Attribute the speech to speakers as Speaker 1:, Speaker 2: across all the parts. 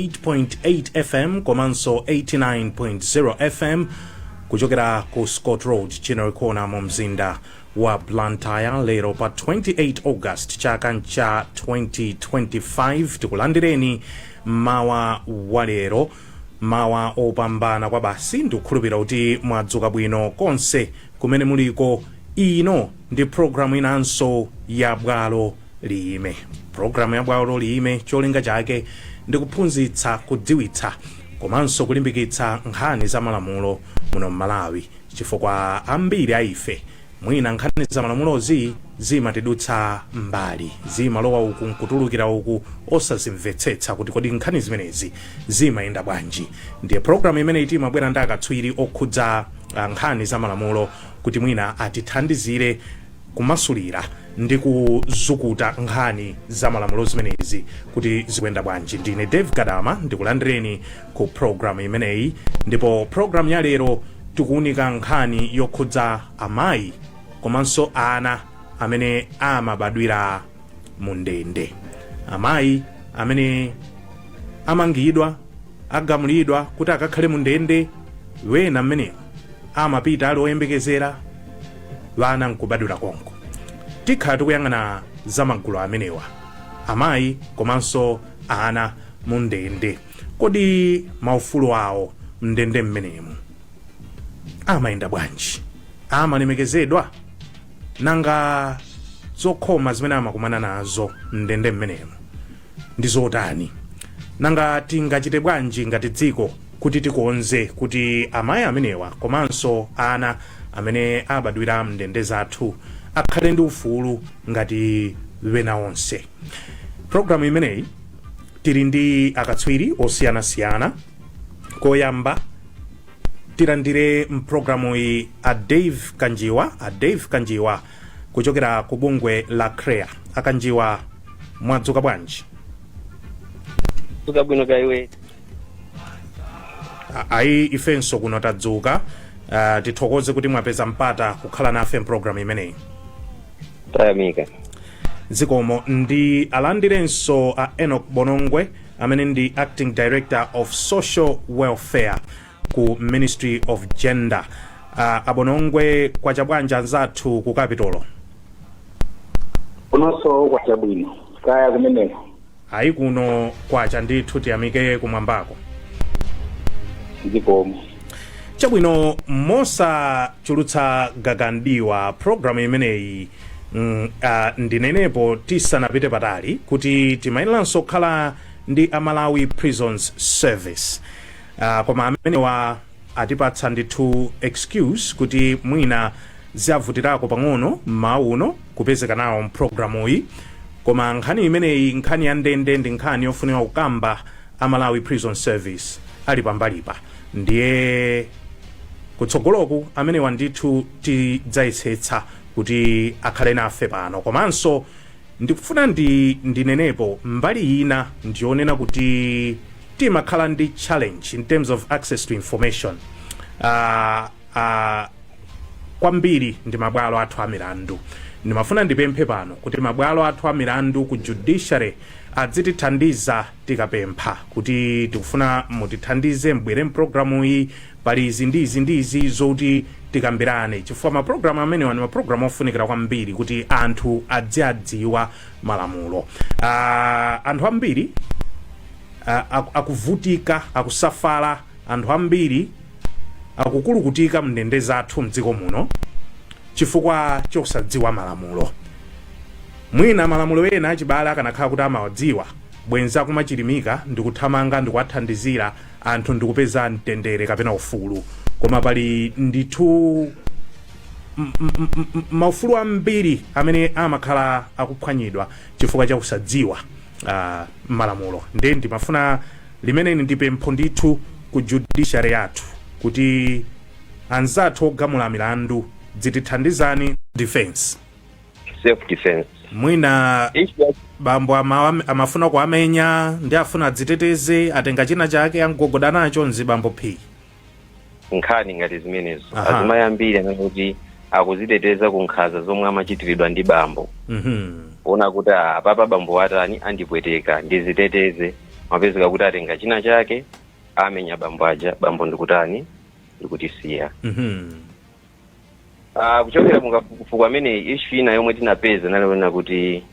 Speaker 1: 98.8 fm komanso 89.0 fm kuchokera ku scott road Ginnery Corner mu mzinda wa blantyre lero pa 28 august chaka ncha 2025 tikulandireni mmawa wa lero mmawa opambana kwa basi ndikukhulupirira kuti mwadzuka bwino konse kumene muliko ino ndi programu inanso ya bwalo liyime. Programu ya bwalo liyime cholinga chake ndi kuphunzitsa, kudziwitsa komanso kulimbikitsa nkhani za malamulo muno m'Malawi chifukwa ambiri a ife mwina nkhani za malamulozi zimatidutsa m'mbali, zimalowa uku n'kutulukira uku osazimvetsetsa kuti kodi nkhani zimenezi zimayenda bwanji. Ndiye programu imeneyi timabwera ndi akatswiri okhudza ah, nkhani za malamulo kuti mwina atithandizire kumasulira ndi kuzukuta nkhani za malamulo zimenezi kuti zikuyenda bwanji. Ndine David Gadama ndikulandireni ku program imeneyi ndipo program ya lero tikuunika nkhani yokhudza amayi komanso ana amene amabadwira mu ndende, amayi amene amangidwa agamulidwa kuti akakhale mu ndende ena mmenemu amapita ali oyembekezera ana nkubadwira konko tikhala tikuyang'ana za magulu amenewa amayi komanso ana mu ndende kodi maufulu awo mndende mmenemu amayenda bwanji amalemekezedwa nanga zokhoma zimene amakumana nazo mndende mmenemu ndi zotani? Nanga tingachite bwanji ngati dziko kuti tikonze kuti amayi amenewa komanso ana amene abadwira m'ndende zathu akhale ndi ufulu ngati ena onse? Programu imeneyi tili ndi akatswiri osiyanasiyana. Koyamba tilandire mpulogalamuyi a Dave Kanjiwa. A Dave Kanjiwa kuchokera ku bungwe la CHREAA a Kanjiwa mwadzuka
Speaker 2: bwanji Tadzuka bwino kaya inu. A-
Speaker 1: ayi ifenso kuno tadzuka uh, tithokoze kuti mwapeza mpata kukhala nafe mpulogalamu
Speaker 2: imeneyi
Speaker 1: Tayamika. zikomo ndiwalandirenso a enoch bonongwe amene ndi acting director of social welfare ku ministry of gender uh, a Bonongwe kwacha bwanji anzathu ku kapitolo kunonso
Speaker 3: kwacha bwino kaya kumeneko ayi kuno
Speaker 1: kwacha ndithu tiyamike kumwambako
Speaker 3: zikomo
Speaker 1: chabwino mosachulutsa gaga m'diwa programu imeneyi mm, uh, ndinenepo tisanapite patali kuti timayeneranso kukhala ndi a Malawi prisons service Ah, koma amenewa atipatsa ndithu excuse kuti mwina ziavutirako pang'ono mmawa uno kupezeka nawo mprogramuyi koma nkhani imeneyi nkhani ya ndende ndi nkhani yofunika kukamba a malawi prison service ali pambalipa ndiye kutsogoloku amenewa ndithu tidzayesetsa kuti akhale nafe pano komanso Ndikufuna ndinenepo mbali ina ndiyonena kuti timakhala ndi challenge in terms of access to information uh, uh, kwambiri ndi mabwalo athu a milandu ndimafuna ndipemphe pano kuti mabwalo athu a milandu ku judiciary adzitithandiza tikapempha kuti tikufuna mutithandize mubwere mpulogalamu iyi Pali izi ndi izi ndi izi zoti tikambirane chifukwa mapulogalamu amenewa ndi mapulogalamu ofunikira kwambiri kuti anthu aziwadziwa malamulo. Ah, anthu ambiri ah, aku- akuvutika akusafala anthu ambiri akukulukutika mndende zathu mdziko muno chifukwa chosadziwa malamulo mwina malamulo ena achibale akanakhala kuti amawadziwa bwenzi akumachirimika ndikuthamanga ndikuwathandizira anthu ndi kupeza mtendere kapena ufulu koma pali ndithu m- m- m- m- maufulu ambiri amene amakhala akuphwanyidwa chifukwa cha kusadziwa ah, malamulo nde ndimafuna limeneli ndi pempho ndithu ku judiciary yathu kuti anzathu ogamula milandu dzitithandizani defense
Speaker 2: self defense mwina
Speaker 1: issue ya bambo ama, amafuna kuwamenya nde afuna adziteteze atenga china chake amgogoda nacho mzibambo phi
Speaker 2: nkhani ngati zimenezo Aha. azimayi ambiri amanena kuti akuziteteza ku nkhanza zomwe amachitiridwa ndi bambo Mhm. kuona kuti ah, apapa bambowa atani andipweteka ndiziteteze amapezeka kuti atenga china chake amenya bambo aja bambo ndikutani ndikutisiya Mhm. Ah, kuchokera mukafukufuku amene ishu ina yomwe tinapeza inali yonena kuti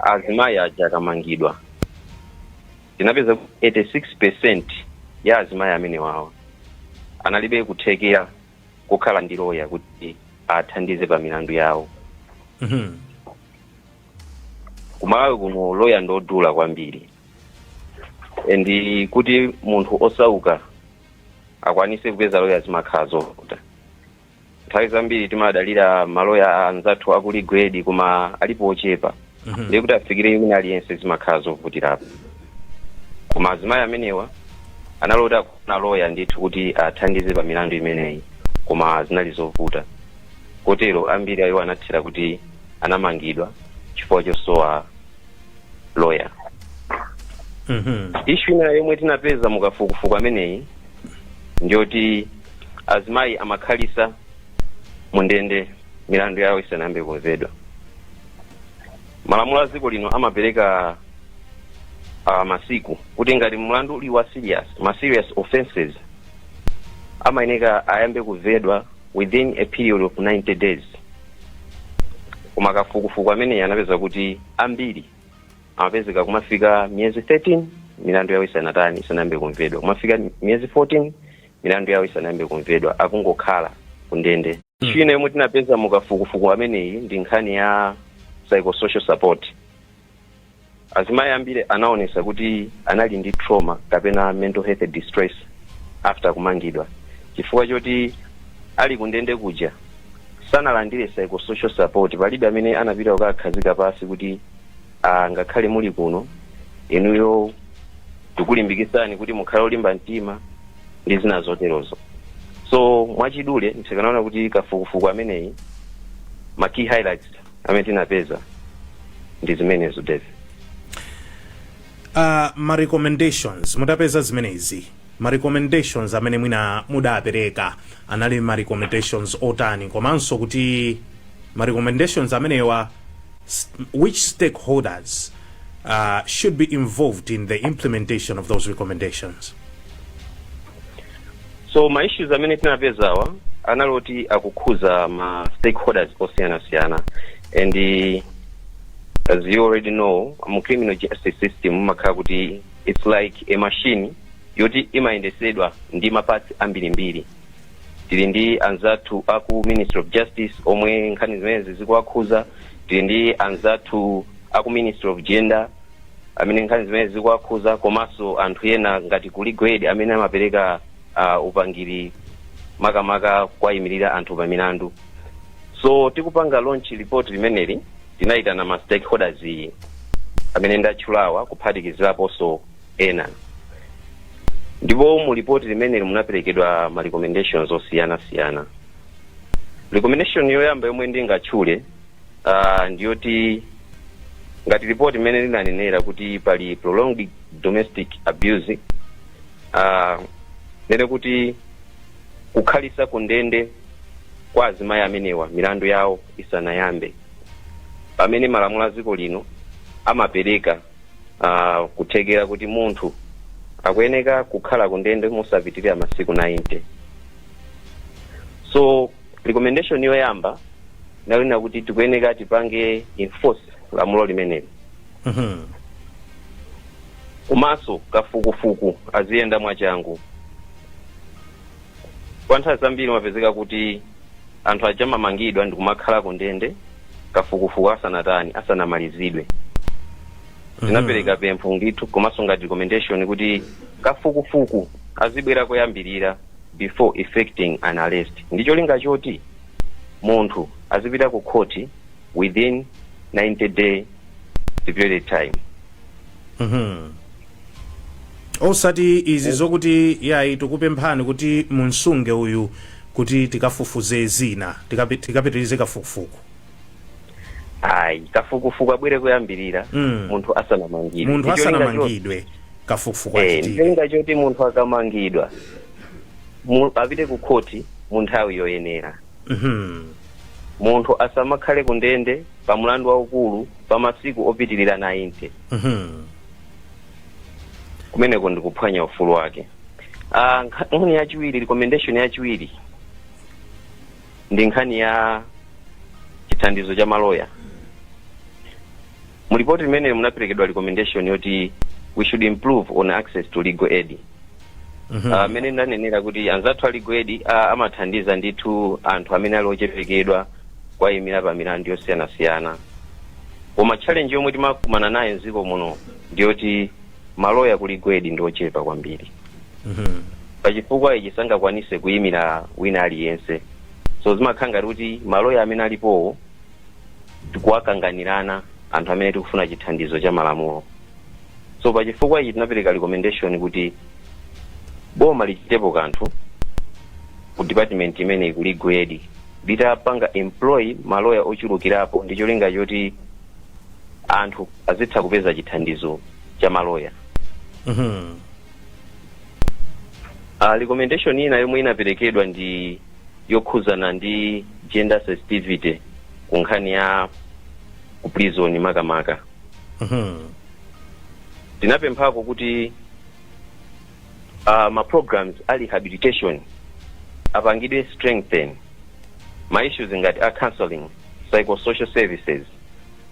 Speaker 2: azimayi aja akamangidwa tinapeza kuti 86 percent ya azimayi amenewawa analibe kuthekera kukhala ndi loya kuti athandize pa milandu yawo Mhm. ku Malawi kuno loya ndodula kwambiri and kuti munthu wosauka akwanise kupeza loya zimakhala zovuta nthawi zambiri timadalira maloya anzathu aku Legal Aid koma alipo ochepa Mhm. ndiye kuti afikire wina aliyense zimakhala zovutirapo koma azimayi amenewa anali oti akufuna loya ndithu kuti athandize pa milandu imeneyi koma zinali zovuta kotero ambiri a iwo anathera kuti anamangidwa chifukwa chosowa loya Mhm. issue ina yomwe tinapeza mukafukufuku ameneyi ndiyoti azimayi amakhalisa mu ndende milandu yawo isanayambe kumvedwa malamulo a dziko lino amapereka uh, masiku kuti ngati mlandu uli wa serious ma serious offenses amayeneka ayambe kumvedwa within a period of 90 days koma kafukufuku ameneyi anapeza kuti ambiri amapezeka kumafika miyezi 13 milandu yawo isanatani isanayambe kumvedwa kumafika miyezi 14 milandu yawo isanayambe kumvedwa akungokhala kundende Mm. china yomwe tinapeza mukafukufuku ameneyi ndi nkhani ya psychosocial support Azimayi ambiri anaonesa kuti anali ndi trauma kapena mental health distress after kumangidwa chifukwa choti ali kundende kuja sanalandire psychosocial support palibe amene anapita kukawakhazika pansi kuti angakhale muli kuno inuyo tikulimbikitseni kuti mukhale olimba mtima ndi zina zoterozo so mwachidule ndikanaona kuti kafukufuku ameneyi ma key highlights amene tinapeza ndi zimenezo Dave. uh,
Speaker 1: ma recommendations mutapeza zimenezi ma recommendations amene mwina mudapereka anali ma recommendations otani komanso kuti ma recommendations amenewa s- which stakeholders uh, should be involved in the implementation of those recommendations
Speaker 2: so ma issues amene tinapezawa anali oti akukhuza ma stakeholders osiyanasiyana and eh, as you already know mu criminal justice system mumakhala kuti it's like a machine yoti imayendesedwa ndi mapatsi ambirimbiri tili ndi anzathu aku ministry of justice omwe nkhani zimenezi zikuwakhuza tili ndi anzathu aku ministry of gender amene nkhani zimenezi zikuwakhuza komanso anthu ena ngati ku Legal Aid amene amapereka uh, upangiri makamaka kuwayimirira anthu pa milandu so tikupanga launch report limeneli tinayitana ma stakeholders amene ndatchulawa kuphatikiziraponso ena ndipo mu report limeneli munaperekedwa ma recommendations osiyana siyana recommendation yoyamba yomwe ndingatchule uh, ndiyoti ngati lipoti mmene linanenera kuti pali prolonged domestic abuse ah, kunena kuti kukhalitsa ku ndende kwa azimayi amenewa milandu yawo isanayambe pamene malamulo a dziko lino amapereka ah, kuthekera kuti munthu akuyeneka kukhala ku ndende mosapitirira masiku 90 so recommendation yoyamba inali ya kuti tikuyeneka tipange enforce lamulo limeneli Mhm. komanso kafukufuku aziyenda mwachangu kwa nthawi zambiri umapezeka kuti anthu aja amamangidwa ndi kumakhala ku ndende kafukufuku asanatani asanamalizidwe tinapereka pempho ndithu komanso ngati recommendation kuti kafukufuku azibwera koyambirira before effecting an arrest ndi cholinga choti munthu azipita ku khoti within 90 day period time
Speaker 1: osati izi zokuti yayi tikupemphani kuti mumsunge uyu kuti tikafufuze zina tikapi- tikapitirize kafukufuku
Speaker 2: ayi kafukufuku abwere koyambirira Mm. munthu asanamangidwe munthu Ndi cholinga choti- asanamangidwe
Speaker 1: kafukufuku Eh, ndi achitike cholinga choti munthu
Speaker 2: akamangidwa mu- apite ku khoti mu nthawi yoyenera Mhm. munthu asamakhale ku ndende pa mlandu waukulu pa masiku opitirira 90 Mhm. kumeneko ndi kuphwanya ufulu wake Ah, nkha- nkhani yachiwiri recommendation yachiwiri ndi nkhani ya chithandizo cha maloya mu lipoti limeneli munaperekedwa recommendation yoti we should improve on access to legal aid mmene ndanenera kuti anzathu a legal aid a- amathandiza ndithu anthu amene ali ochepekedwa kuwayimira pa milandu yosiyanasiyana koma challenge yomwe timakumana nayo mdziko muno ndiyoti maloya ku legal aid ndi ochepa kwambiri Mhm. pachifukwa ichi sangakwanise kuyimira wina aliyense so zimakhala ngati kuti maloya amene alipowo tikuwakanganirana anthu amene tikufuna chithandizo cha malamulo so pachifukwa ichi tinapereka recommendation kuti boma lichitepo kanthu ku department imeneyi ku legal aid litapanga employ maloya ochulukirapo ndi cholinga choti anthu azitha kupeza chithandizo cha maloya Mhm. uh, recommendation ina yomwe inaperekedwa ndi yokhuzana ndi gender sensitivity ku nkhani ya ku prison makamaka Mhm. tinapemphako kuti uh, ma programs a rehabilitation apangidwe strengthen ma issues ngati a counseling psychosocial services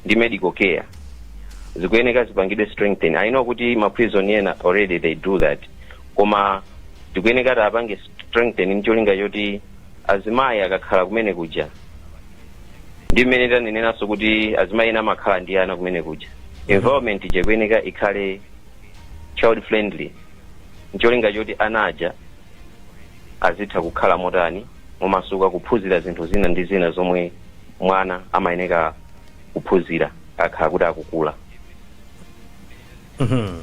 Speaker 2: ndi medical care zikuyeneka zipangidwe strengthen i know kuti ma prison ena already they do that koma tikuyeneka tapange strengthen ncholinga choti azimayi akakhala kumene kuja ndi mmene taneneranso kuti azimayi ena amakhala ndi ana kumene kuja environment ija ikuyeneka ikhale child friendly ncholinga choti ana aja azitha kukhala motani momasuka kuphunzira zinthu zina ndi zina zomwe mwana amayeneka kuphunzira akhala kuti akukula Mhm.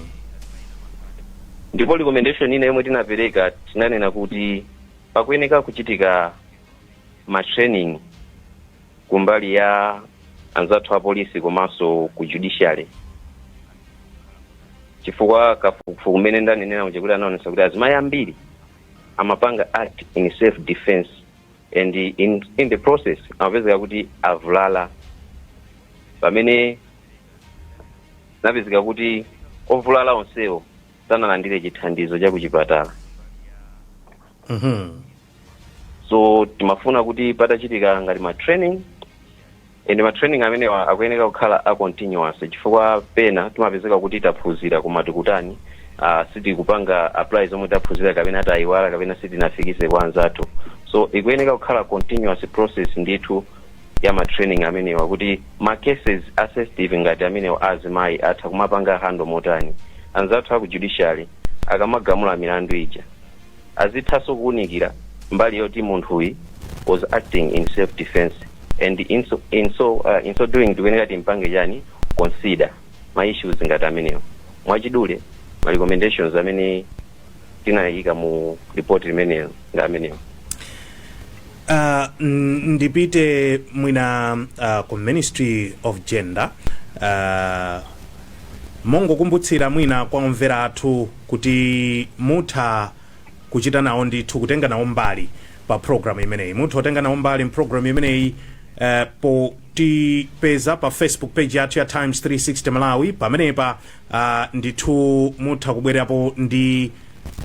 Speaker 2: ndipo recommendation ina yomwe tinapereka tinanena kuti pakuyeneka kuchitika ma training kumbali ya anzathu a polisi komanso ku judiciary chifukwa kafukufuku umene ndanenera muja kuti anaonesa kuti azimayi ambiri amapanga act in self defense and in, in the process amapezeka kuti avulala pamene anapezeka kuti ovulala onsewo sanalandire chithandizo cha kuchipatala Mhm. so timafuna kuti patachitika ngati ma training and ma training amenewa akuyeneka kukhala a continuous chifukwa pena timapezeka kuti taphunzira koma tikutani uh, sitikupanga apply zomwe taphunzira kapena tayiwala kapena sitinafikitse kwa anzathu so ikuyeneka kukhala continuous process ndithu ya ma training amenewa kuti ma cases a sensitive ngati amenewa a azimayi atha kumapanga handle motani anzathu aku judiciary akamagamula milandu ija Azithanso kuunikira mbali yoti munthuyi was acting in self defence and in so in so in so doing tikuyeneka timpange chani consider ma issues ngati amenewa. Mwachidule ma recommendations amene tinaika mu report limenelo ndi amenewa. Uh,
Speaker 1: n- ndipite mwina uh, ku ministry of gender uh, mongokumbutsa mwina kwa omvera athu kuti mutha kuchita nawo ndithu kutenga nawo mbali pa program imeneyi mutha kutenga nawo mbali mprogram imeneyi eh, potipeza pa facebook page yathu ya times 360 malawi pamenepa ah, ndithu mutha kubwerapo ndi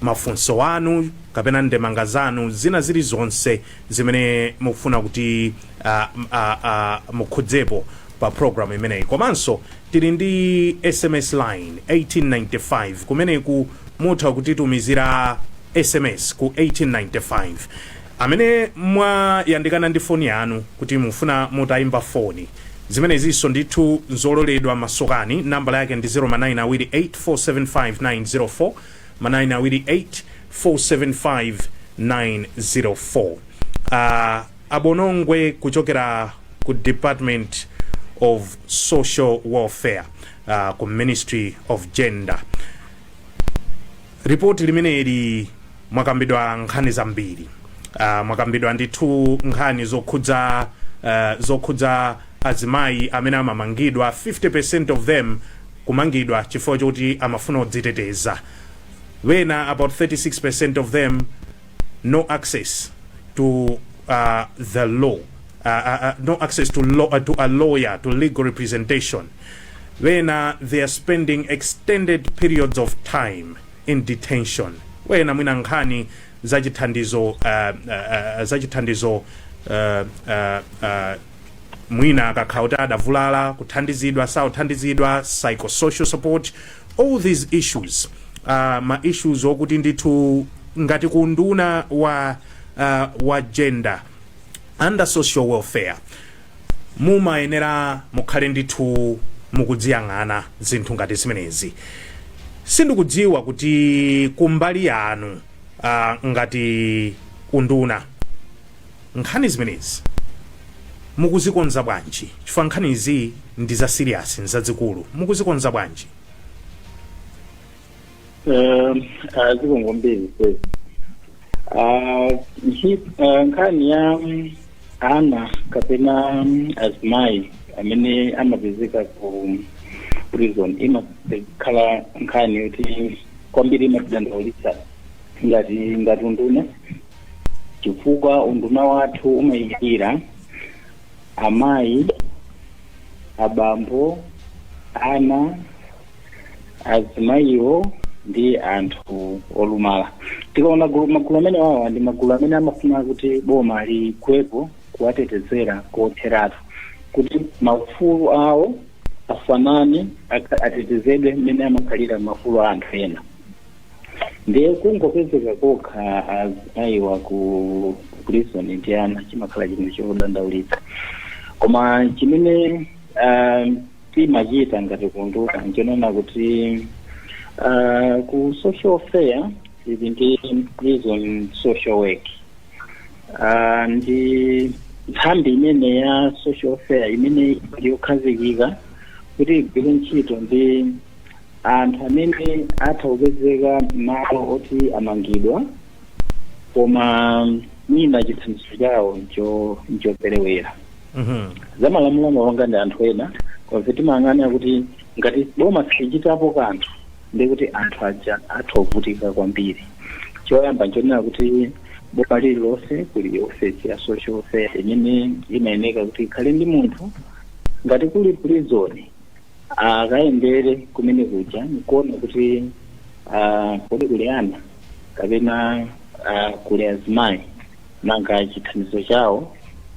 Speaker 1: mafunso anu kapena ndemanga zanu zina zilizonse zimene mukufuna kuti ah, m- ah, ah, mukhudzepo pa program imeneyi komanso tili ndi sms line 1895 kumeneko mutha kutitumizira sms ku 1895 amene mwayandikana ndi foni yanu kuti mufuna mutayimba foni zimenezinso ndithu nzololedwa masukani nambala yake ndi 0 manayini awiri 8475904 manayini awiri 8475904 uh, A Bonongwe kuchokera ku Department of Social Welfare uh, ku Ministry of Gender. Ripoti limeneli mwakambidwa nkhani zambiri uh, mwakambidwa ndithu nkhani zokhudza uh, zokhudza azimayi amene amamangidwa 50% of them kumangidwa chifukwa choti amafuna kudziteteza ena about 36% of them no access to the law no access to law to a lawyer to legal representation ena they are spending extended periods of time in detention ena mwina nkhani za chithandizo uh, uh, za chithandizo uh, uh, uh, mwina akakhala kuti adavulala kuthandizidwa sakuthandizidwa psychosocial support all these issues are ma issues okuti ndithu ngati ku unduna wa uh, wa gender and social welfare mumayenera mukhale ndithu mukuziyang'ana zinthu ngati zimenezi sindikudziwa kuti kumbali yanu uh, ngati unduna Nkhani zimenezi mukuzikonza bwanji chifukwa nkhani izi ndi za serious nzazikulu mukuzikonza bwanji? Um,
Speaker 3: ah, zikomo kwambiri. Ah, hi- ah, nkhani ya mm, ana kapena mm, azimayi amene amapezeka ku mm, prison imakhala nkhani yoti kwambiri imatidandaulitsa ngati ngati unduna chifukwa unduna wathu umayimira amayi abambo ana azimayiwo ndi anthu olumala tikaona gulu- magulu amene wawa ndi magulu amene amafuna kuti boma lilowepo kuwatetezera kotheratu kuti maufulu awo afanane aka- atetezedwe mmene amakhalira maufulu a anthu ena ndiye kungopezeka kokha azimayiwa ku prison ndi ana chimakhala chinthu chodandaulitsa koma chimene um, timachita ngati kunduna nchonena kuti uh, ku social welfare tili ndi prison social work uh, ndi nthambi imene ya social welfare imene ndi yokhazikika kuti igwire ntchito ndi anthu amene atha kupezeka m'malo oti amangidwa koma mwina chithandizo chawo ncho- nchoperewera Mhm. zamalamulo amapanga ndi anthu ena koma timayang'ana kuti ngati boma silichitapo kanthu ndi kuti anthu aja atha kuvutika kwambiri choyamba nchonena kuti boma lililonse kuli ofesi ya social welfare imene imayeneka kuti ikhale ndi munthu ngati kuli prison akayendere kumene kuja nkuona kuti ah, kodi kuli ana kapena ah, kuli azimayi nanga chithandizo chawo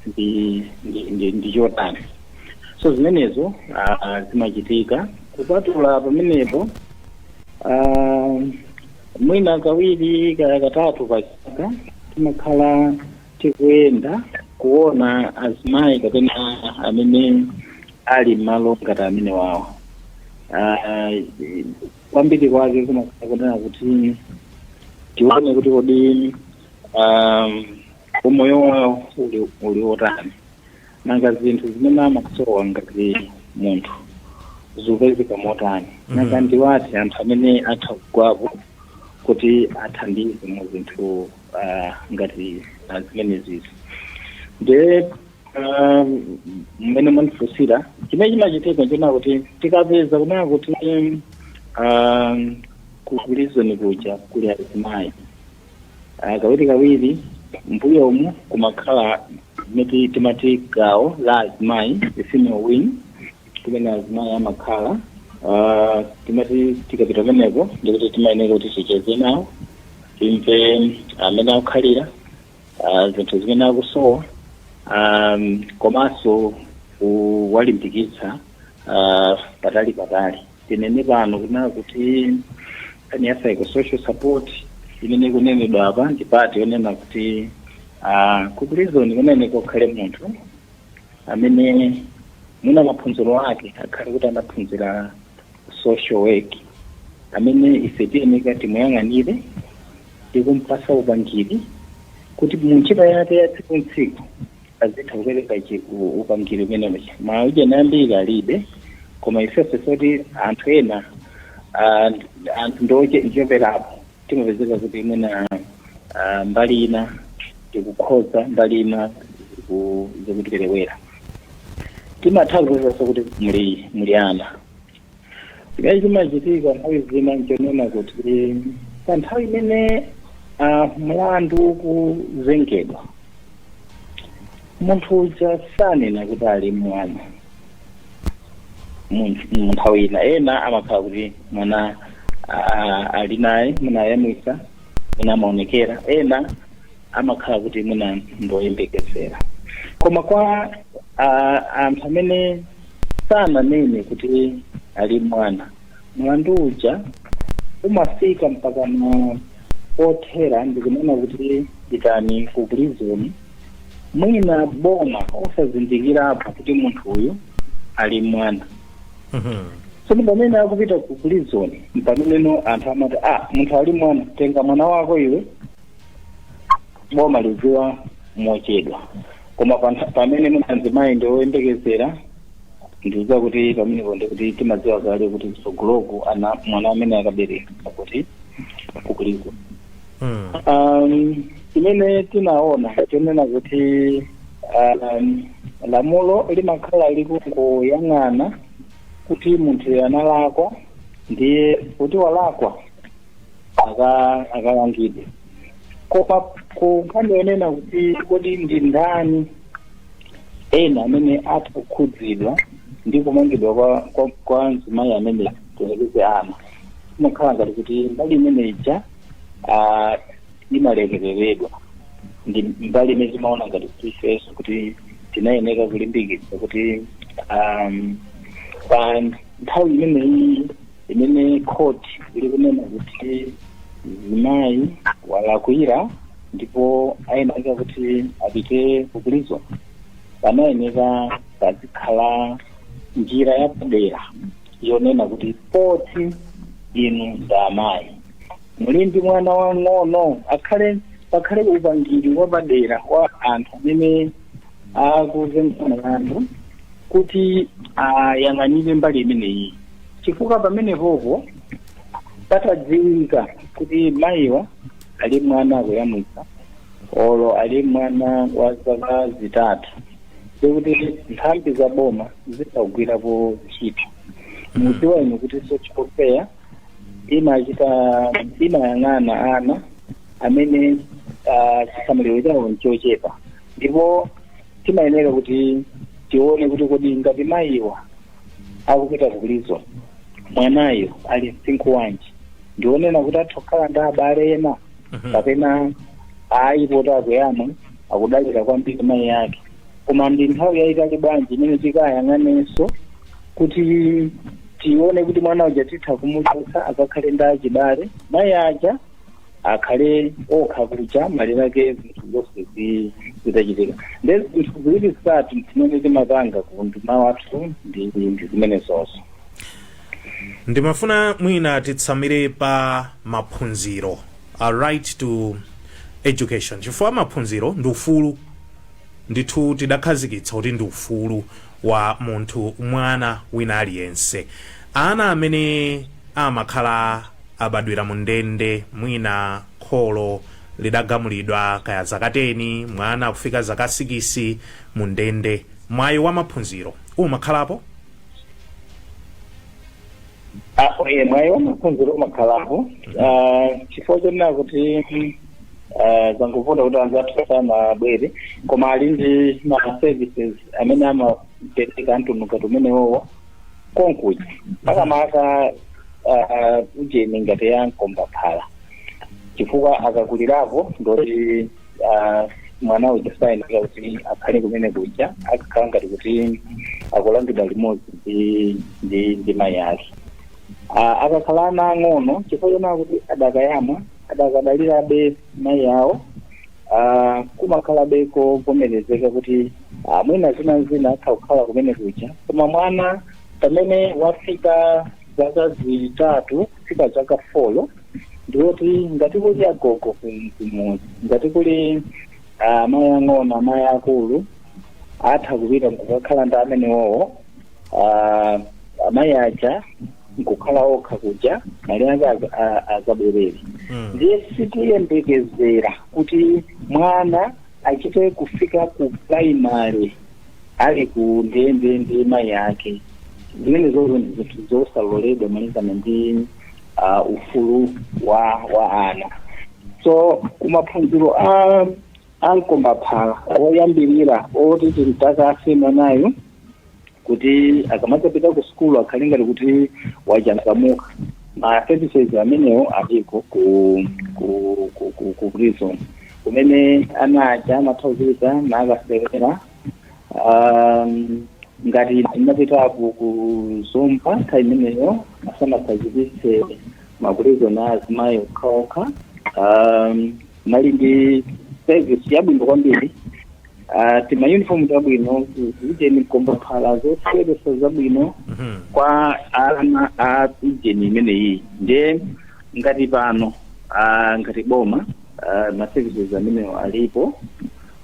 Speaker 3: ndi ndi- ndi- ndi chotani so zimenezo ah, ah, zimachitika kupatula pamenepo ah, mwina kawiri kaya katatu pa chaka timakhala tikuyenda kuona azimayi kapena amene ali m'malo ngati amenewawo Ah, kwambiri kwake kumakhala kunena kuti tione kuti kodi um, umoyo wawo uli, uli otani nanga zinthu zimene amasowa ngati munthu zikupezeka motani nanga ndiwati anthu amene atha kugwapo kuti athandize mu zinthu ah, ngati ah, zimenezizi nde Ah, mmene mwandifunsira chimene chimachitika nchonena kuti tikapeza kunena kuti ah, ku prison kuja kuli azimayi Ah, kawiri kawiri mbuyomu kumakhala miti timati gawo la azimayi the female wing kumene azimayi amakhala Ah, timati tikapita kumeneko ndikuti timayeneka kuti ticheze nawo timve mmene akukhalira ah, zinthu zimene akusowa um, komanso kuwalimbikitsa ah, patali patali tinene pano kunena kuti nkhani ya psychosocial support imene ikunenedwa apa ndi part yonena kuti ah, ku prison kuyeneka kukhale munthu amene mwina maphunziro ake akhale kuti anaphunzira social work amene ife tiyeneka timuyang'anire ndi kumpasa upangiri kuti mu ntchito yake ya tsiku ntsiku azitha kupereka chi- u- upangiri umenewo ma NGO ambiri alibe koma ifeso poti anthu ena ah, anthu ndiocheperapo timapezeka kuti mwina ah, mbali ina tikukhoza mbali ina ziku- zikutiperewera timatha kupezaso kuti muli muli ana chimene chimachitika nthawi zina nchonena kuti pa nthawi imene ah, mlandu ukuzengedwa munthu uja sanena kuti ali mwana mu- mu nthawi ina ena amakhala kuti mwana ah, ali naye mwina ayamwisa mwina amaonekera ena amakhala kuti mwina ndoyembekezera koma kwa ah, anthu amene sananene kuti ali mwana mlandu uja umafika mpaka na pothera ndikunena kuti pitani ku prison mwina boma osazindikirapo kuti munthu uyu ali mwana tsono pamene akupita ku prison mpameneno anthu amati ah munthu ali mwana tenga mwana wako iwe boma lidziwa mochedwa koma pantha- pamene mwina mzimayi ndi woyembekezera ndidziwa kuti pamenepo ndikuti timadziwa kale kuti mtsogoloku ana mwana amene akaberekera ku prison Mm. Um, chimene tinaona chonena kuti um, lamulo limakhala likungoyang'ana kuti munthuyo analakwa ndiye kuti walakwa aka- akalangidwe koma ku nkhani yonena kuti kodi ndi ndani ena amene atha kukhudzidwa ndi kumangidwa kwa, kwa, kwa mzimayi amene tiyerekeze ana imakhala ngati kuti mbali imene ija ah, imalekereredwa ndi mbali imene timaona ngati kuti ifenso kuti tinayeneka kulimbikitsa kuti um, pa nthawi imeneyi imene court likunena kuti mzimayi walakwira ndipo ayeneka kuti apite ku prison panayeneka pazikhala njira yapadera yonena kuti poti inu ndi amayi muli ndi mwana wang'ono akhale pakhale upangiri wapadera wa anthu amene akuzenga mlandu kuti ayang'anire mbali imeneyi chifukwa pamenepopo patadziwika kuti mayiwa ali mwana akuyamwitsa olo ali mwana wa zaka zitatu ndikuti nthambi za boma zizagwirapo ntchito mudziwa inu kuti social care imachita imayang'ana ana amene ah, chisamaliro chawo nchochepa ndipo timayenera kuti tione kuti kodi ngati mayiwa akupita ku prison mwanayo ali msinkhu wanji ndi onena kuti atha kukhala ndi abale ena kapena ayi poti akuyamwa akudalira kwambiri mayi ake koma ndi nthawi yayitali bwanji imene tikayang'anenso kuti tione kuti mwana uja titha kumuchotsa akakhale ndi achibale mayi aja akhale okha kuja malire ake zinthu zonse zi- zitachitika nde zinthu ziwiri zitatu zimene timapanga ku unduna wathu ndi ndi zimenezozo
Speaker 1: ndimafuna mwina titsamire pa maphunziro a right to education chifukwa maphunziro ndi ufulu ndithu tidakhazikitsa kuti ndi ufulu wa munthu, mwana wina aliyense. Ana amene amakhala abadwira mu ndende, mwina kholo lidagamulidwa, kaya zaka teni, mwana kufika zaka sikisi mu ndende, mwayi wa maphunziro umakhalapo?
Speaker 3: apo iye mwayi wa maphunziro umakhalapo Ah, chifukwa chonena kuti mm, ah, zangovuta kuti anzathu sanabwere koma ali ndi ma services amene amapereka a mtundu ngati umenewowo konkuja makamaka ah, ujeni ngati ya mkombaphala chifukwa akakulirapo ndoti ah, mwana uja sayenera kuti akhale kumene kuja akakhala ngati kuti akulangidwa limodzi ndi ndi ndi mayi ake Ah, akakhala ana ang'ono chifukwa chonena kuti adakayamwa adakadalirabe mayi awo ah, kumakhalabe kovomerezeka kuti ah, mwina zina zina atha kukhala kumene kuja koma mwana pamene wafika zaka zitatu kufika zaka folo ndiwoti ngati kuli agogo kumudzi ngati kuli ah, amayi ang'ono amayi akulu atha kupita nkukakhala ndi amenewowo ah, amayi aja nkukhala okha kuja mali ake az- a- azabwerere ndiye sitiyembekezera kuti mwana achite kufika ku primary ali ku ndende ndi mayi ake zimene zozo ndi zinthu zosaloledwa malingana ndi ah, ufulu wa wa ana so kumaphunziro a a mkombaphala oyambirira oti timtakase mwanayo kuti akamadzapita ku sukulu akhale ngati kuti wachangamuka ma services amenewo aliko ku ku ku, ku, ku prison kumene ana aja amatha kuchuluka nakasewera um, ngati ndinapita ku Zomba nthawi imeneyo asanakhazikitse ma prison a azimayi okhaokha um, anali ndi service yabwino kwambiri Ah, tima uniform zabwino ujeni mkomba phala zoseweretsa zabwino Mhm. kwa ana a ujeni amene aja nde ngati pano ah, ngati boma ah, ma services amenewo alipo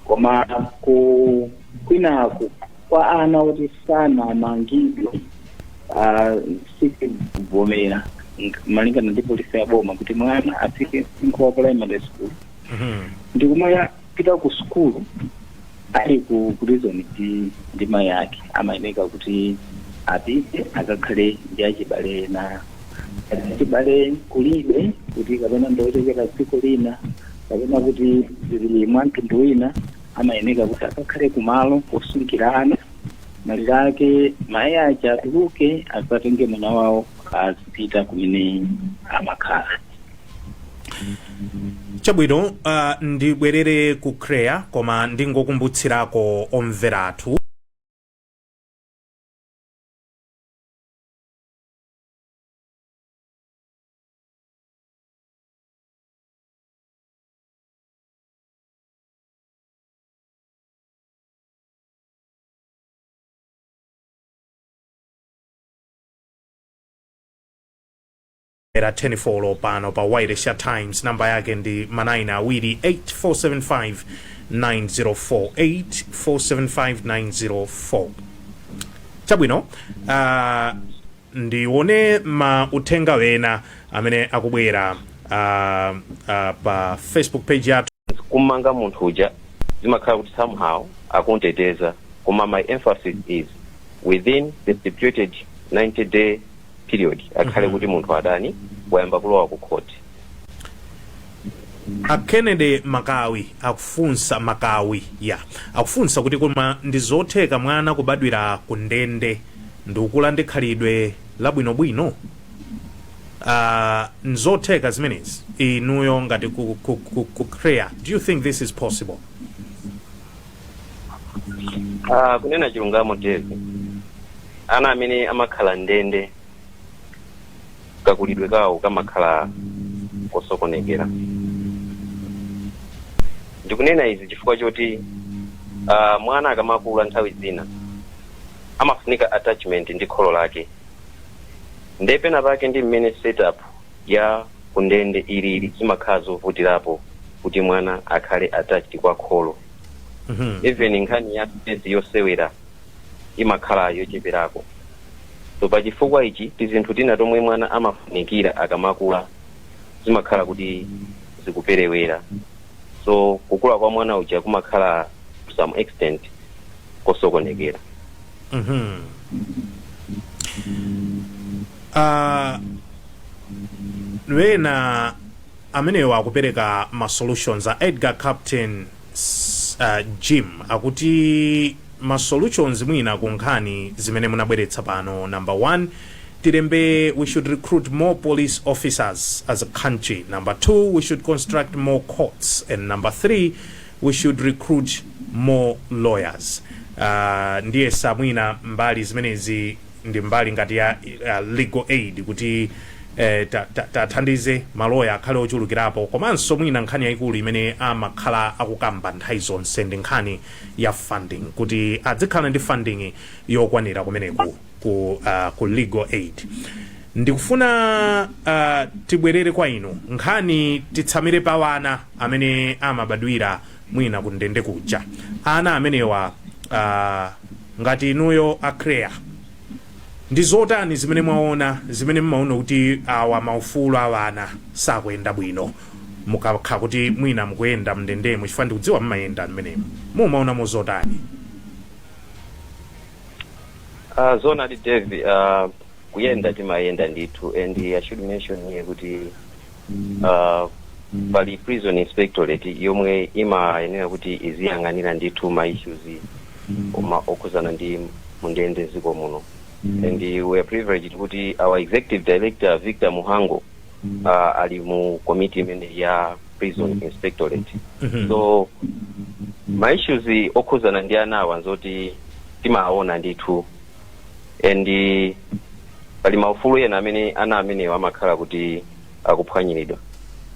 Speaker 3: koma ku kwinaku kwa ana oti sanamangidwe ah, sikuvomerezeka malingana ndi polisi ya boma kuti mwana afike msinkhu wa primary school Mhm. ndikumaya pita ku sukulu ali ku prison ndi ndi mayi ake amayeneka kuti apite akakhale ndi achibale ena achibale kulibe kuti kapena ndiochokera dziko lina kapena kuti zili mwa mtundu wina amayeneka kuti akakhale kumalo kosungira ana mayi ake atuluke adzatenge mwana wawo azipita kumene amakhala
Speaker 1: chabwino uh, ndibwerere ku CHREAA koma ndingokumbutsirako omvera athu era 10 folo pano pa wailesi ya times namba yake ndi ma nine awiri 8475 904 8475 904 chabwino uh, ndione ma uthenga ena amene akubwera uh, uh, pa facebook page yathu kummanga
Speaker 2: munthu uja zimakhala kuti somehow akumuteteza koma my emphasis is within the stipulated 90 day period akhale kuti munthu atani wayamba kulowa ku
Speaker 1: court a kennedy makawi akufunsa makawi ya akufunsa kuti koma ndi zotheka mwana kubadwira ku ndende ndikukula ndi khalidwe labwinobwino uh, nzotheka zimenezi inuyo ngati ku, ku, ku, ku CHREAA do you think this is possible
Speaker 2: Ah, kunena chilungamo Dave ana amene amakhala mndende kakulidwe kawo kamakhala kosokonekera ndikunena izi chifukwa choti ah, mwana akamakula nthawi zina amafunika attachment ndi kholo lake nde pena pake ndi mmene setup ya kundende ilili zimakhala zovutirapo kuti mwana akhale attached kwa kholo even nkhani ya mezi yosewera imakhala yocheperako so pa chifukwa ichi tizinthu tina tomwe mwana amafunikira akamakula zimakhala kuti zikuperewera so kukula kwa mwana uja kumakhala to some extent kosokonekera
Speaker 1: Mhm. Ah, wena Amenewa akupereka ma solutions a Edgar Captain Jim akuti ma solutions mwina ku nkhani zimene munabweretsa pano number one tilembe we should recruit more police officers as a country number two we should construct more courts and number three we should recruit more lawyers uh, ndiyesa mwina mbali zimenezi ndi mbali ngati ya ya legal aid kuti eh, ta- ta- tathandize maloya akhale ochulukirapo komanso mwina nkhani yayikulu imene amakhala akukamba nthawi zonse ndi nkhani ya funding kuti adzikhala ndi funding yokwanira kumeneku ku, uh, ku legal aid ndikufuna uh, tibwerere kwa inu nkhani titsamire pa wana amene amabadwira mwina kundende kuja ana amenewa uh, ngati inuyo a CHREAA ndi zotani zimene mwaona zimene mmaona kuti awa maufulu a wana sakuyenda bwino mukakha kuti mwina mukuyenda mndendemo chifukwa ndikudziwa mmayenda mmenemo mumaonamo
Speaker 2: zotani Uh, zoonadi Dave, uh, kuyenda timayenda ndithu and I should mention here kuti uh, pali prison inspectorate yomwe imayenera kuti iziyang'anira ndithu ma issues oma- okhuzana ndi mundende mdziko muno and uh, we are privileged kuti our executive director Victor Mhango uh, ali mu committee imene ya prison inspectorate so ma issues okhuzana ndi anawa nzoti timaona ndithu and eh, pali maufulu ena amene ana amenewa amakhala kuti akuphwanyiridwa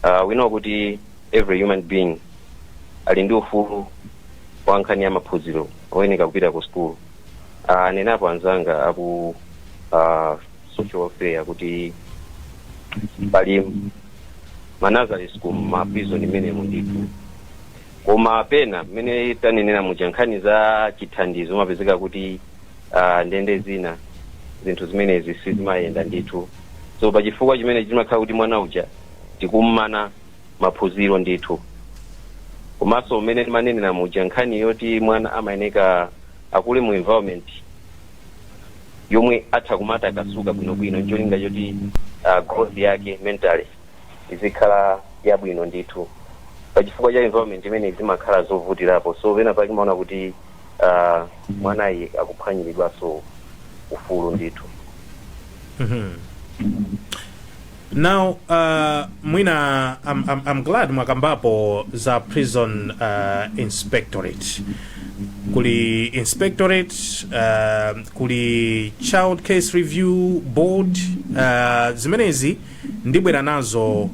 Speaker 2: uh, we know kuti every human being ali ndi ufulu wa nkhani ya maphunziro oyenera kupita ku school uh, anenapo anzanga aku uh, social welfare kuti pali ma nursery school mma prison mmenemo ndithu koma pena mmene tanenera muja nkhani za chithandizo mumapezeka kuti uh, ndende zina zinthu zimenezi sizimayenda ndithu so pa chifukwa chimene chimakhala kuti mwana uja tikummana maphunziro ndithu komanso mmene timanenera muja nkhani yoti mwana amayeneka akule mu environment yomwe atha kumatakasuka bwinobwino ncholinga choti uh, growth yake mentally izikhala yabwino ndithu pa chifukwa cha environment imeneyi zimakhala zovutirapo so pena pake mumaona kuti uh, mwanayu akuphwanyiridwanso ufulu ndithu
Speaker 1: now uh, mwina I'm, I'm, I'm glad mwakambapo za prison uh, inspectorate kuli inspectorate uh, kuli child case review board uh, zimenezi ndibwera nazo uh,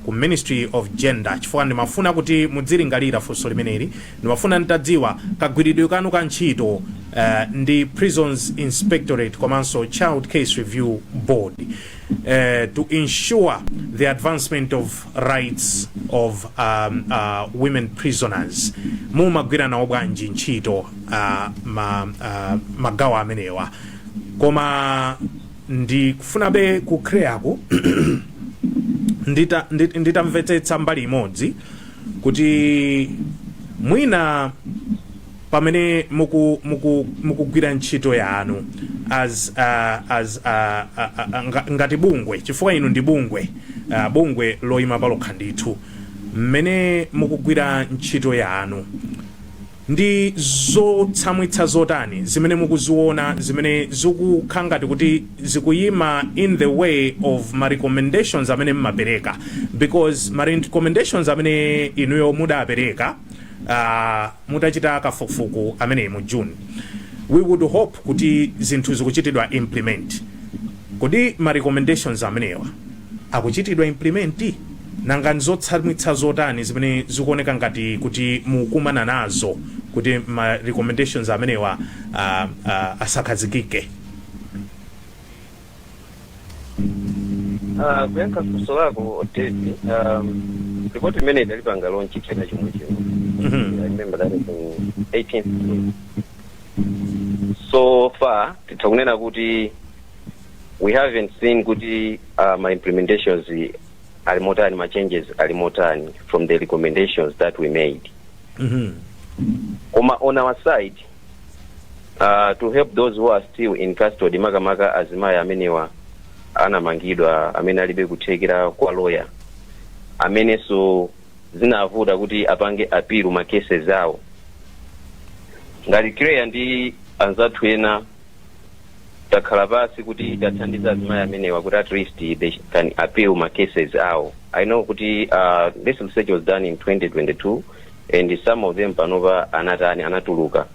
Speaker 1: ku ministry of gender chifukwa ndimafuna kuti muzilingalira funso limeneli ndimafuna nditadziwa kagwiridwe kanu ka ntchito uh, ndi prisons inspectorate komanso child case review board uh, to ensure the advancement of rights of um, uh, women prisoners mumagwira nawo bwanji ntchito uh, ma, uh, magawo amenewa koma ndikufunabe ku CHREAA-ku ndita, ndit- nditamvetsetsa mbali imodzi kuti mwina pamene muku- muku- mukugwira ntchito yanu as, uh, as uh, uh, uh, nga- ngati bungwe chifukwa inu ndi bungwe uh, bungwe loyima palokha ndithu mmene mukugwira ntchito yanu Ndi zotsamwitsa zotani zimene mukuziona zimene zikukhala ngati kuti zikuyima in the way of ma recommendations amene mmapereka? Because ma recommendations amene inuyo mudapereka aah mutachita kafukufuku ameneyi mu June, we would hope kuti zinthu zikuchitidwa implement. Kodi ma recommendations amenewa. akuchitidwa implement? Nanga nzotsamwitsa zotani zimene zikuoneka ngati kuti mukukumana nazo kuti ma recommendations amenewa ah, ah, asakhazikike?
Speaker 2: Ah, kuyankha funso lako David, um, ripoti imene tidaipanga launch chaka chomwe chino Mhm. I remember that in 18th June. so far titha kunena kuti we haven't seen kuti uh, ma implementations ali motani ma changes ali motani from the recommendations that we made Mhm. koma on our side uh, to help those who are still in custody makamaka azimayi amenewa anamangidwa amene alibe kuthekera kwa loya amenenso zinavuta kuti apange apilu ma cases awo ngati CHREAA ndi anzathu ena takhala pansi kuti tithandize azimayi amenewa kuti at least they can appeal ma cases awo i know kuti uh, this research was done in 2022 and some of them panopa anatani anatuluka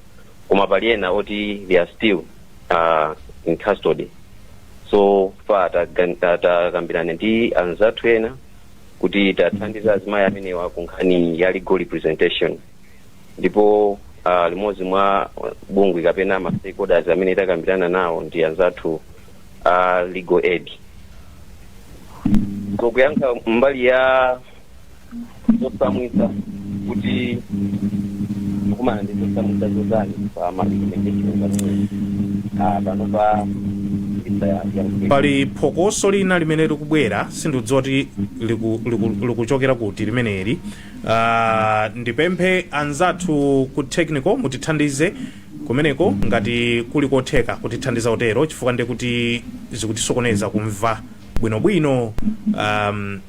Speaker 2: koma pali ena oti they are still uh, in custody so far tagan- ta- takambirana ndi anzathu ena kuti tithandize azimayi amenewa ku nkhani ya legal representation ndipo uh, limodzi mwa bungwe kapena ma stakeholders amene takambirana nawo ndi anzathu a uh, legal aid kuyankha mbali ya zotsamwitsa kuti mukukumana ndi zotsamwitsa zotani pa ma recommendations amene uh, panopa
Speaker 1: pali phokoso lina limene likubwera sindikudziwa kuti liku- liku- likuchokera kuti limeneli Ah, ndipemphe anzathu ku technical mutithandize kumeneko ngati kuli kotheka kutithandiza kutero chifukwa ndi kuti zikutisokoneza kumva bwinobwino um,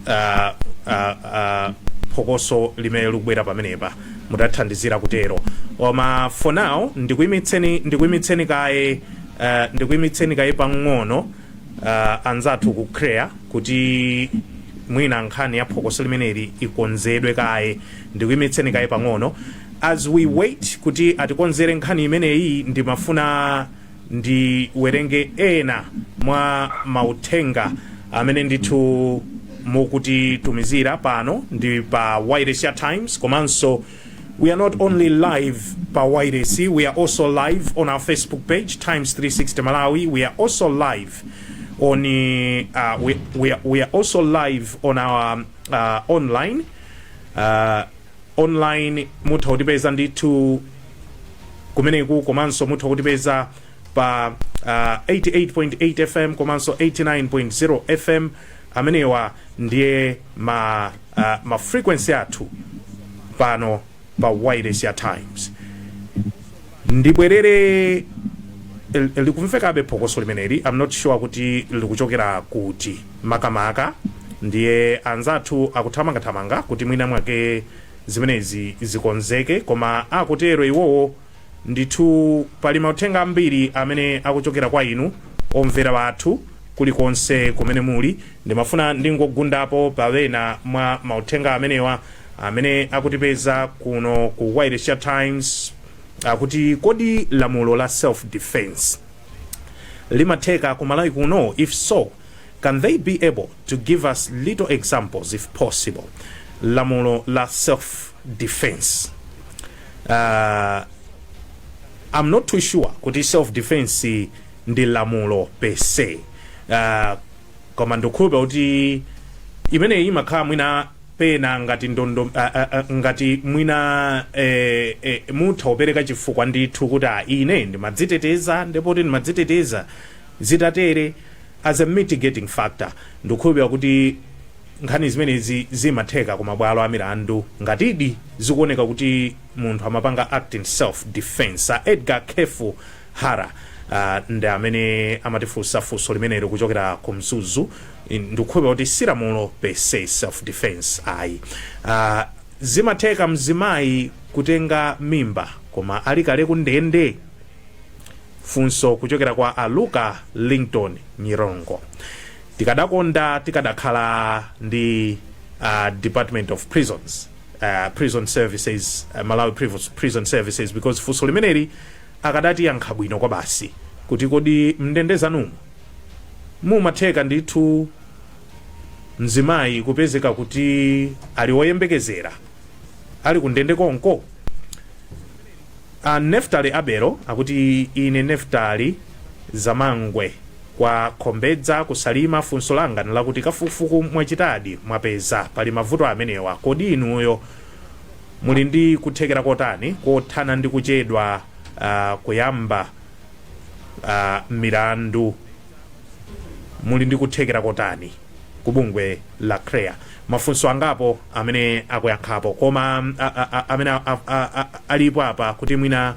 Speaker 1: ah, ah, ah, phokoso limene likubwera pamenepa mutathandizira kutero koma for now ndikuimitseni ndikuimitseni kaye ah, ndikuimitseni kaye pang'ono uh, anzathu ku CHREAA kuti mwina nkhani ya phokoso limeneli ikonzedwe kaye ndikuyimitseni kaye pang'ono as we wait kuti atikonzere nkhani imeneyi ndimafuna ndiwerenge ena mwa mauthenga amene ndithu mukutitumizira pano ndi pa wailesi ya times komanso We are not only live pa YDC, we are also live on our Facebook page, Times 360 Malawi. We are also live on uh, we, we, are, we are also live on our uh, online uh, online mutha kutipeza ndithu kumeneku komanso mutha kutipeza pa uh, 88.8 fm komanso 89.0 fm amenewa ndiye ma uh, ma frequency athu pano pa wailesi ya times ndibwerere l- likumvekabe phokoso limeneli i'm not sure kuti likuchokera kuti makamaka ndiye anzathu akuthamangathamanga kuti mwina mwake zimenezi zikonzeke koma akutero iwowo Ndithu pali mauthenga ambiri amene akuchokera kwa inu omvera athu, kulikonse kumene muli. Ndimafuna ndingogundapo pa ena mwa mauthenga amenewa amene akutipeza kuno ku wailesi ya Times, akuti kodi lamulo la self defence limatheka ku Malawi kuno? If so, can they be able to give us little examples if possible? Lamulo la self. defense uh, I'm not too sure kuti self defense ndi lamulo per se uh, koma ndikukhulupirira kuti imeneyi imakhala mwina pena ngati ndondo uh, uh, uh, ngati mwina eh, eh, mutha kupereka chifukwa ndithu kuti ah, ine ndimadziteteza ndipo kuti ndimadziteteza zitatere as a mitigating factor ndikukhulupirira kuti nkhani zimenezi zimatheka ku mabwalo amilandu ngatidi zikuoneka kuti munthu amapanga act in self defence a edgar kefu hara uh, ndi amene amatifunsa funso limenelo kuchokera ku mzuzu ndikukhulupirira kuti si lamulo per se self defence ayi uh, zimatheka mzimayi kutenga mimba koma ali kale kundende funso kuchokera kwa aluka linton nyirongo tikadakonda tikadakhala ndi uh, department of prisons uh, prison services uh, malawi Priv- prison services because funso limeneli akadatiyankha bwino kwabasi kuti kodi mndende zanumu zimatheka ndithu mzimayi kupezeka kuti ali woyembekezera ali kundende konko A Neftali Abero akuti ine Neftali Zamangwe kwa Khombedza ku Salima funso langa nlakuti kafukufuku mwachitadi mwapeza pali mavuto amenewa kodi inuyo muli ndi kuthekera kotani kothana ndi kuchedwa kuyamba milandu muli ndi kuthekera kotani? ku bungwe la crea mafunso angapo amene akuyankhapo koma mm, a, a, a, amene a, a, a, a, alipo apa kuti mwina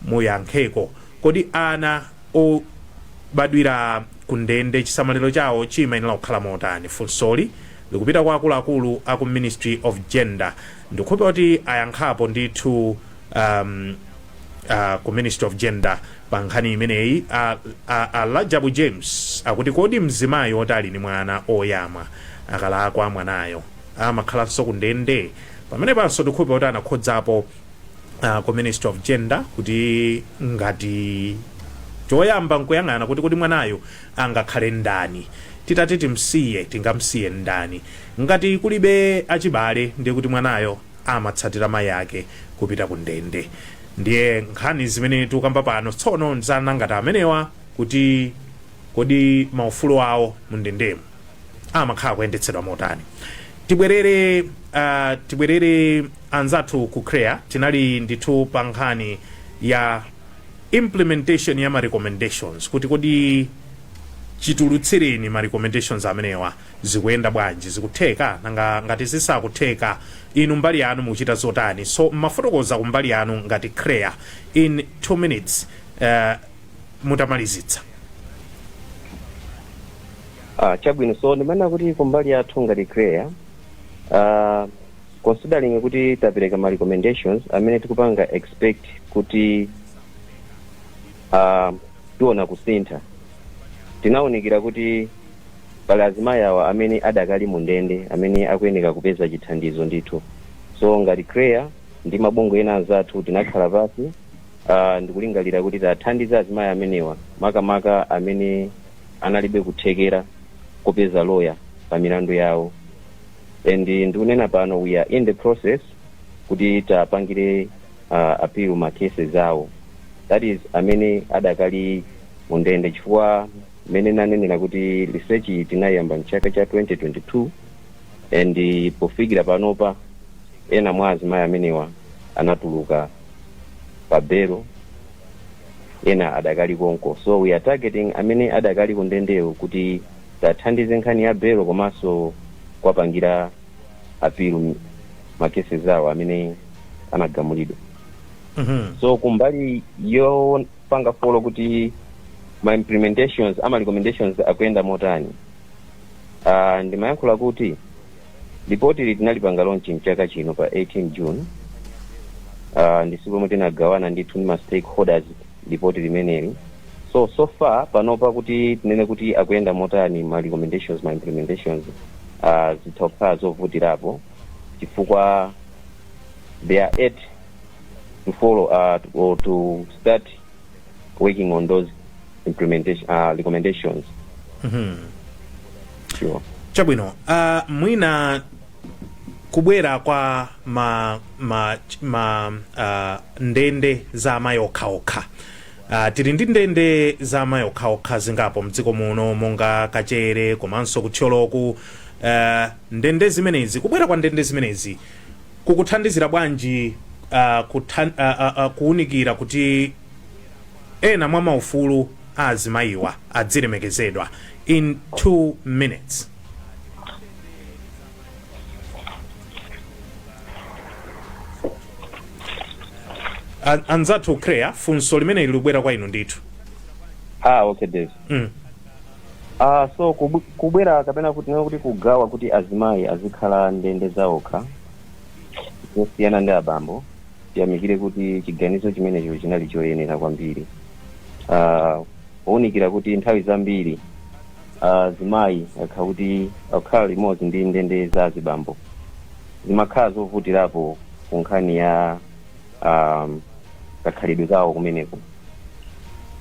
Speaker 1: muyankheko kodi ana obadwira ku ndende chisamaliro chawo chimayenera kukhala motani funsoli likupita kwa akuluakulu aku ministry of gender ndikukhulupirira kuti ayankhapo ndithu um, uh, ku ministry of gender pa nkhani imeneyi a, a, a lajabu james akuti kodi mzimayi oti ali ni mwana oyamwa akalakwa mwanayo amakhalanso ku ndende pamenepanso ndikukhulupirira kuti anakhudzapo uh, ku ministry of gender kuti ngati choyamba nkuyang'ana kuti kodi mwanayo angakhale ndani titati timsiye tingamsiye ndani ngati kulibe achibale ndiye kuti mwanayo amatsatira mayi ake kupita ku ndende. Ndiye nkhani zimene tikukamba pano tsono nza ana ngati amenewa kuti kodi maufulu awo mu ndendemo amakhala kuyendetsedwa motani. Tibwerere uh, tibwerere anzathu ku CREA tinali ndithu pa nkhani ya implementation ya ma recommendations kuti kodi chitulutsireni ma recommendations amenewa zikuyenda bwanji, zikutheka? Nanga ngati zisakutheka inu mbali yanu mukuchita zotani? So mumafotokoza kumbali yanu ngati CHREAA in 2 minutes eh, mutamalizitsa.
Speaker 2: Ah, chabwino so ndimanena kuti kumbali yathu ngati CHREAA ah, considering kuti tapereka ma recommendations amene tikupanga expect kuti uh, tiona kusintha tinaunikira kuti pali azimayi awa amene adakali mu ndende amene akuyeneka kupeza chithandizo ndithu so ngati CHREAA ndi mabungwe ena anzathu tinakhala pasi uh, ndikulingalira kuti tiwathandize azimayi amenewa makamaka amene analibe kuthekera kupeza loya pa milandu yawo and ndikunena pano we are in the process kuti tiwapangire uh, appeal ma cases awo that is amene adakali mu ndende chifukwa mmene nanenera kuti research iyi tinaiyamba mchaka cha 2022 and eh, pofikira panopa ena mwa azimayi amenewa anatuluka pa belo ena adakali konko so we are targeting amene adakali kundendewo kuti tiwathandize nkhani ya belo komanso kuwapangira apilu ma cases awo amene anagamulidwa so kumbali yopanga follow up kuti ma implementations ama recommendations akuyenda motani uh, ndimayankhula kuti lipoti ili tinalipanga launch mchaka chino pa 18 june uh, ndi siku lomwe tinagawana ndithu ndi ma stakeholders lipoti limeneli so so far panopa kuti tinene kuti akuyenda motani ma recommendations ma implementations uh, zitha kukhala zovutirapo chifukwa they are yet to follow uh, to, or to start working on those implementation uh, recommendations Mhm. sure. chabwino
Speaker 1: uh, mwina kubwera kwa ma, ma, ma uh, ndende za amayi okhaokha Uh, tili ndi ndende za amayi okhaokha zingapo mdziko muno monga Kachere komanso ku Thyoloku uh, ndende zimenezi kubwera kwa ndende zimenezi kukuthandizira bwanji uh, kuthan, uh, uh, uh, kuunikira kuti ena mwa maufulu a azimayiwa adzilemekezedwa in 2 minutes A- anzathu CHREAA funso limeneli likubwera kwa inu ndithu ah
Speaker 2: okay Dave. Mm. ah so kubu- kubwera kapena kuti tinene kuti kugawa kuti azimayi azikhala ndende zaokha zosiyana ndi abambo tiyamikire kuti chiganizo chimenecho chinali choyenera kwambiri ah pounikira kuti nthawi zambiri azimayi akhala kuti akukhala limodzi ndi ndende za azibambo zimakhala zovutirapo ku nkhani ya um, kakhalidwe kawo kumeneko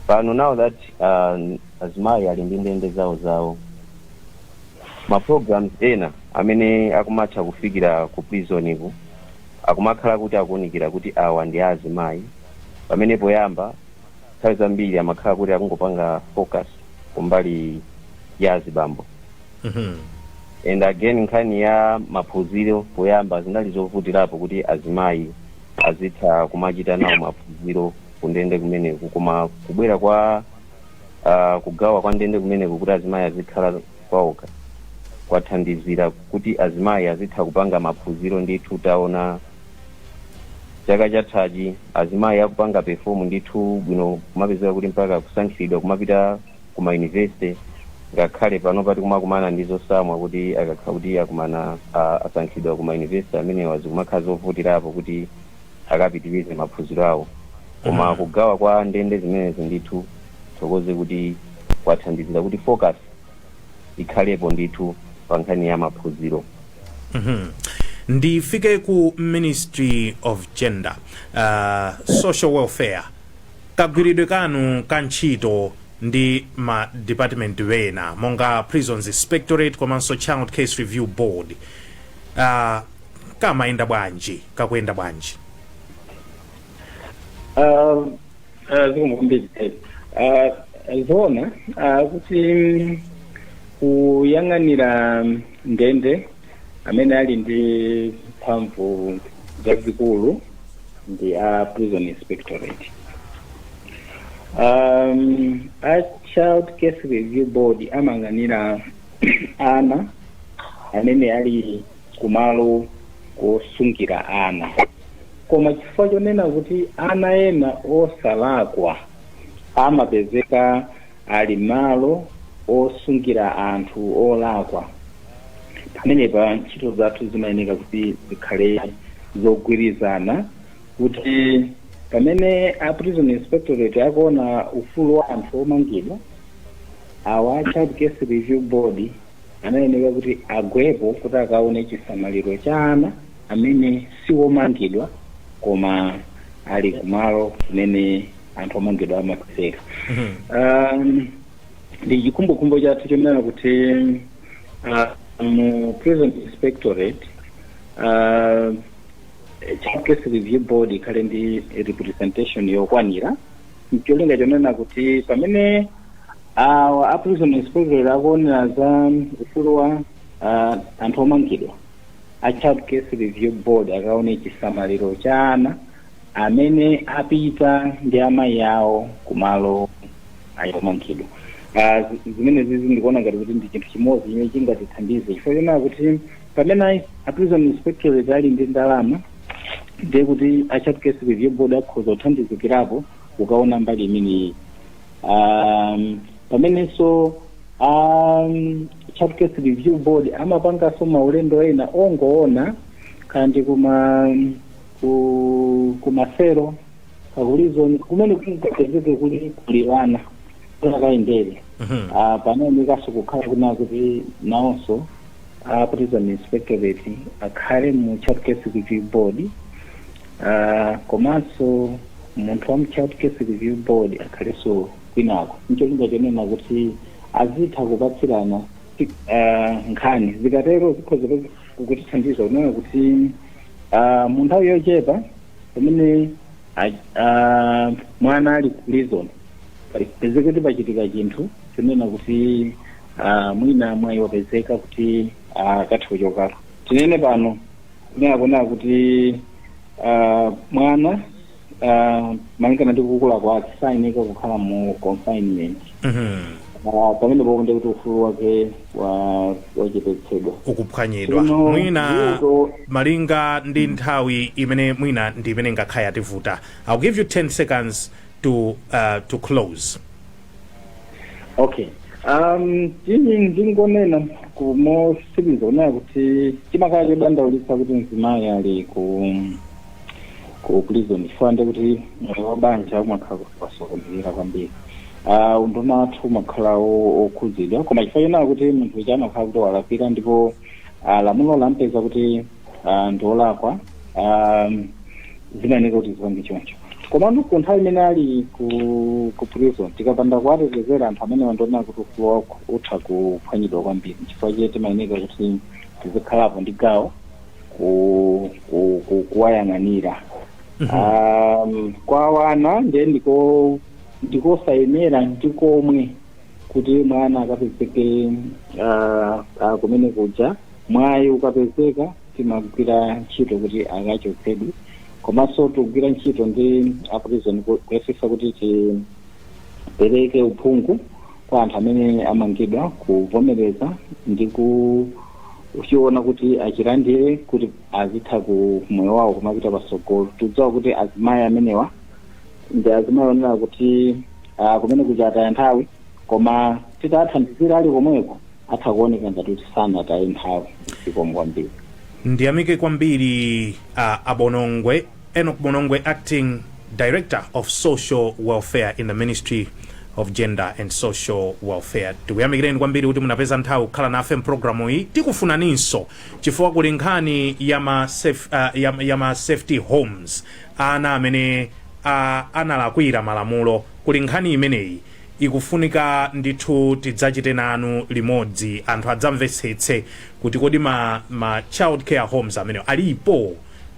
Speaker 2: pano now that um, azimayi ali ndi ndende zawo zawo ma programs ena amene akumatha kufikira ku prison ku akumakhala kuti akuunikira kuti awa ndi azimayi pamene poyamba nthawi zambiri amakhala kuti akungopanga focus kumbali ya azibambo Mhm. and again nkhani ya maphunziro poyamba zinali zovutirapo kuti azimayi azitha kumachita nawo maphunziro kundende kumeneku koma kubwera kwa uh, kugawa kwa ndende kumeneku kuti azimayi azikhala kwaokha kwathandizira kuti azimayi azitha kupanga maphunziro ndithu taona chaka chathachi azimayi akupanga perform ndithu bwino kumapezeka kuti mpaka kusankhilidwa kumapita ku ma university ngakhale panopa tikumakumana ndi zotsamwa kuti akakha kuti akumana a- asankhidwa ku ma university amenewa zikumakhala zovutirapo kuti akapitirize maphunziro awo koma kugawa kwa ndende zimenezi ndithu ndithokoze kuti kwathandizira kuti focus ikhalepo ndithu pa nkhani ya maphunziro
Speaker 1: ndifike ku ministry of gender uh, social welfare kagwiridwe kanu ka ntchito ndi ma department ena monga prisons inspectorate komanso child case review board uh, kamaye- kakuyenda bwanji Ah,
Speaker 3: ah, zikomo kwambiri Ted. Ah, zoona ah, kuti mm, kuyang'anira ndende amene ali ndi mphamvu zazikulu ndi a prison inspectorate um, a child case review board amayang'anira ana amene ali kumalo kosungira ana koma chifukwa chonena kuti ana ena osalakwa amapezeka ali malo osungira anthu olakwa pamenepa ntchito zathu zimayeneka kuti zikhale zogwirizana kuti pamene a prison inspectorate akuona ufulu wa anthu omangidwa awa a child case review board anayenera kuti agwepo kuti akaone chisamaliro cha ana amene si omangidwa koma ali kumalo kumene anthu omangidwa amapezeka um, ndi chikhumbokhumbo chathu chonena kuti uh, mu prison inspectorate uh, child case review board ikhale ndi representation yokwanira ncholinga chonena kuti pamene awa a prison inspectorate akuonera za ufulu wa ah, anthu omangidwa a child case review board akaone chisamaliro cha ana amene apita ndi amayi awo kumalo a omangidwa Ah, zimene zizi ndikuona ngati kuti ndi chinthu chimodzi chimene chingatithandize chifukwa chonena kuti pamene a prison inspectorate ali ndi ndalama ndiye kuti a child case review board akhoza kuthandizikirapo kukaona mbali imeneyi um, pamenenso um, child case review board amapanganso maulendo ena ongoona kandi kuma ku, kuma cell kakulizoni kumene kungapezeke kuli kuli ana n'kukayendera Mhm. Ah, pafunikanso kukhala kunena kuti nawonso a prison inspectorate akhale mu child case review board uh, komanso munthu wa mu child case review board akhalenso kwinako ncholinga chonena kuti azitha kupatsirana ti- uh, nkhani zikatero zikhoza kutithandiza kunena kuti uh, mu nthawi yochepa pamene a- a- mwana ali ku prison pezeke kuti pachitika chinthu chonena kuti Ah, mwina mwayi wapezeka kuti akathe kuchokako tinene pano kunena kunena kuti ah, mwana ah, malingana ndi kukula kwake sayeneka kukhala mu confinement Mhm. Ah, pamene popo ndiye kuti ufulu wake wa- wachepetsedwa ukuphwanyidwa Tsono, mwina vuto- malinga ndi nthawi imene mwina ndi imene ingakhale yativuta i'll give you 10 seconds to, uh, to close okay um ine ndingonena kumotsiriza kunena kuti chimakhala chodandaulitsa kuti mzimayi ali ku ku prison chifukwa ndi kuti moyo wa banja umakhala wasokonekera kwambiri Ah, unduna wathu umakhala o- okhudzidwa koma chifukwa chonena kuti munthu uja amakhala kuti walakwira ndipo ah, lamulo lampeza kuti ah, ndi olakwa ah, zimayeneka kuti zipange choncho komano ku nthawi imene ali ku ku prison tikapanda kuwatetezera anthu amenewa ndiona kuti ufulu wawo utha kuphwanyidwa kwambiri chifukwa chake timayeneka kuti tizikhalapo ndi gawo ku- ku- ku- kuwayang'anira um, kwa wana ndiye ndiko ndikosayenera ndikomwe kuti mwana akapezeke uh, uh, kumene kuja Mwayi ukapezeka timagwira ntchito kuti akachotsedwe komanso tikugwira ntchito ndi a prison ku- kuyesesa kuti tipereke uphungu kwa anthu amene amangidwa kuvomereza ndi kuchiona kuti achilandire kuti azitha ku moyo wawo kumapita patsogolo tikudziwa kuti azimayi amenewa ndi azimayi onena kuti ah, kumene kuja ataya nthawi koma titawathandizira ali komweko atha kuoneka ngati kuti sanataye nthawi zikomo kwambiri ndiyamike kwambiri a bonongwe enoch bonongwe acting director of social welfare in the ministry of gender and social welfare tikuyamikireni kwambiri kuti munapeza nthawi kukhala nafe mpulogalamuyi tikufunaninso chifukwa kuli nkhani ya ma saf- ah, ya- ya ma safety homes ana amene ah, analakwira malamulo kuli nkhani imeneyi ikufunika ndithu tidzachite nanu limodzi anthu adzamvetsetse kuti kodi ma, ma child care homes amenewo alipo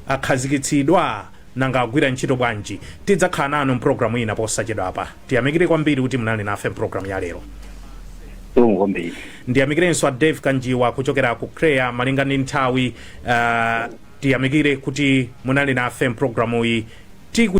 Speaker 3: akhazikitsidwa nanga agwira ntchito bwanji tidzakhala nanu mpulogalamu ina posachedwapa tiyamikire kwambiri kuti munali nafe mpulogalamu ya lero zikomo kwambiri ndiyamikirenso a dave kanjiwa kuchokera ku chreaa malinga ndi nthawi uh, tiyamikire kuti munali nafe mpulogalamuyi tiku